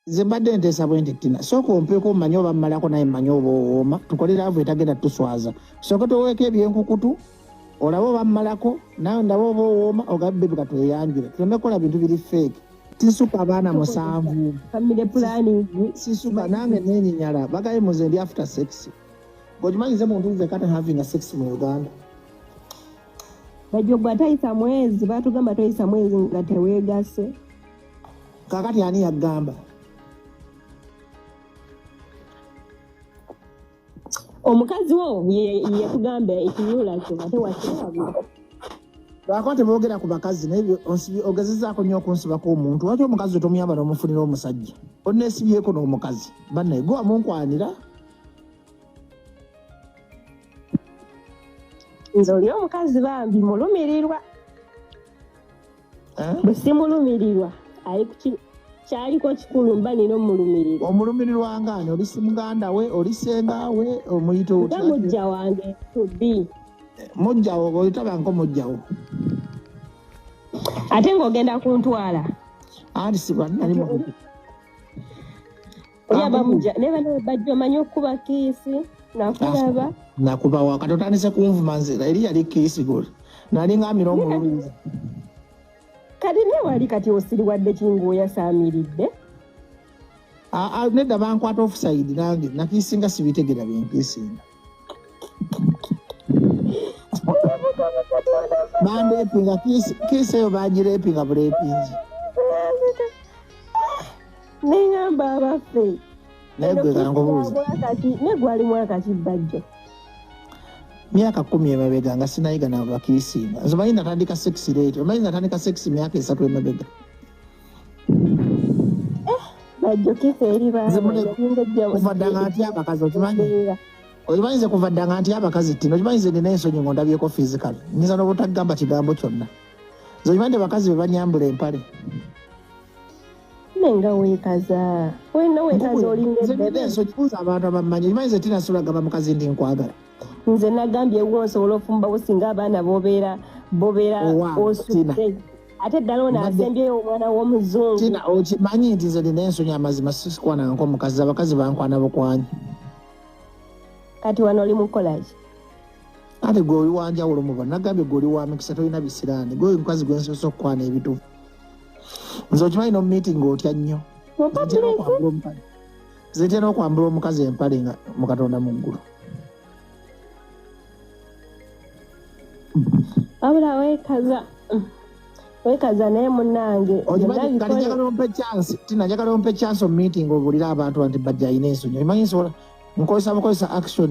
nze mbadde nteesa bwe nti tina sooka ompeko mmanyi oba mmalako naye mmanyi oba owooma tukole laavu etagenda tuswaza sooka toweeko ebyenkukutu olaba oba mmalako nawe ndaba oba owooma ogabe bebi katweyanjule tuleme kukola bintu biri feeke sisuka abaana musanvu sisuka nange nenyinyala bagaye muze ndi after sex gokimanyize muntu nze kata having a sex mu uganda bajogwa tayisa mwezi batugamba toyisa mwezi nga tewegase kakati ani yagamba omukazi wo yekugamba ekiyula kyo ate wakiwabula lwako tebogera ku bakazi naye ogezezaako nnyo okunsibako omuntu waki omukazi otomuyamba nomufunira omusajja onesibyeko n'omukazi banaye gwe wamunkwanira nze oli omukazi bambi mulumirirwa eh? bwe simulumirirwa ali ku kyaliko kikulu mba nina omulumirirwa omulumirirwa ngaani oli si muganda we oli senga we omuyita otya nga mujja wange to be eh, mujjawo oitabanko mujjawo ate ng'ogenda kuntwala anti sibanali nakubawa kati otandise kunvuma nze eri yali kiisi goli nalinga amira omulungi kati naye wali kati osiriwadde kingaoyasamiridde nedda bankwata ofusaidi nange nakiisinga sibitegera byenkiisinga bandeepinga kiisi eyo bagireepinga bureepingi neŋamba abaffe naye gwe kankubuuza negwali mwaka kibbajjo myaka kumi emabega nga sinayiga nabakirisinga nze omanyi natandika sex late omanyi natandika sex myaka esatu emabega kuva ddanga ntya abakazi okimanyi okimanyi nze kuva ddanga ntya abakazi tino okimanyi nze nina ensonyi nga ondabyeko physical nyinza n'obutagamba kigambo kyonna nze okimanyi nti bakazi be banyambula empale nenga wekaza wena wekaza olinga ebebe nso kibuza abantu abamanyi okimanyi nze tinasula gamba mukazi ndi nkwagala nze nagambye wo nsobola ofumbawo singa abaana bobeera bobeera osudde ate ddala ono asembyeyo omwana w'omuzungu tina okimanyi nti nze nina ensonyi amazima sisikwananko omukazi abakazi bankwana bukwanyi kati wano oli mukolaki ate gwe oli wanjawulo muba nagambye gwe oli wa mikisa tolina bisiraani gwe omukazi gwe nsobosa okukwana ebituufu nze okimanyi nomumiitinga otya nnyo zitera okwambula omukazi empale nga mukatonda mu ggulu wabula wekaza wekaza naye munange tinajagala ompe chance omumeeting obulira abantu banti bajja alina ensonyi omanyi nsobola nkozesa bukozesa action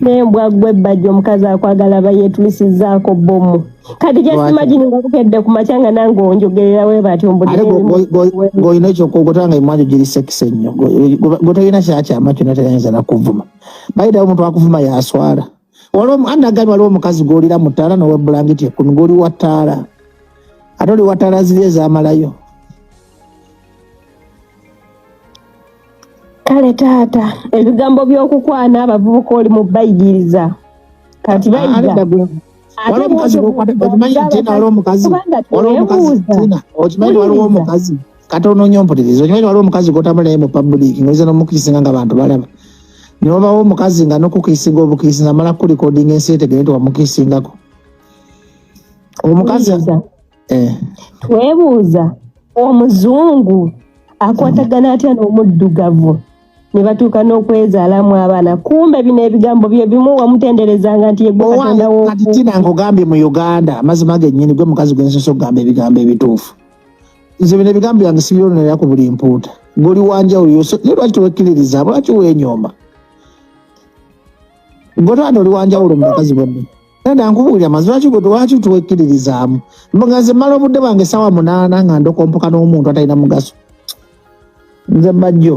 nembwa gwe bajja omukazi akwagala bayetulisizaako bomu kati jasimagini nga bukedde ku makya nga nange onjogerera we bati ombudeolina ekyokuogota nga emwanjo giri sekisa ennyo gotolina kyakyama kyona tayinza nakuvuma bayitawo omuntu akuvuma yaswala waliwo anagambye waliwo omukazi gwolira mu ttaala nowa bulangiti ekumi gwoli wa ttaala ate oli wa ttaala ziri ezamalayo kale taata ebigambo by'okukwana abavubuka oli mu bayigiriza kati bayiga waliwo omukazi okimanyi nti ena waliwo omukazi waliwo omukazi tina okimanyi waliwo omukazi kati onoonya ompuliriza okimanyi waliwo omukazi gotambula naye mu public noyinza nomukiisinga nga bantu balaba newabawo omukazi nga nokukiisinga obukiisi namala kulikodinga ensi etegere nti wamukiisingako omukazi eh. twebuuza omuzungu akwatagana atya n'omuddugavu ne batuuka n'okwezaalamu abaana kumbe bino ebigambo bye bimu wamutenderezanga nti yegwekatondawo kati tina nkugambye mu uganda amazima gennyini gwe mukazi gwensosa okugamba ebigambo ebituufu nze bino ebigambo byange sibyononera ku buli mpuuta goli wanjawulo yose naye lwaki tewekkiririza lwaki wenyooma gwe twana oli wanjawulo mu bakazi bonna nenda nkubuulira mazi lwaki gwe lwaki tewekkiririzaamu nga nze mmala obudde bwange essaawa munaana nga ndokompoka n'omuntu atalina mugaso nze bajjo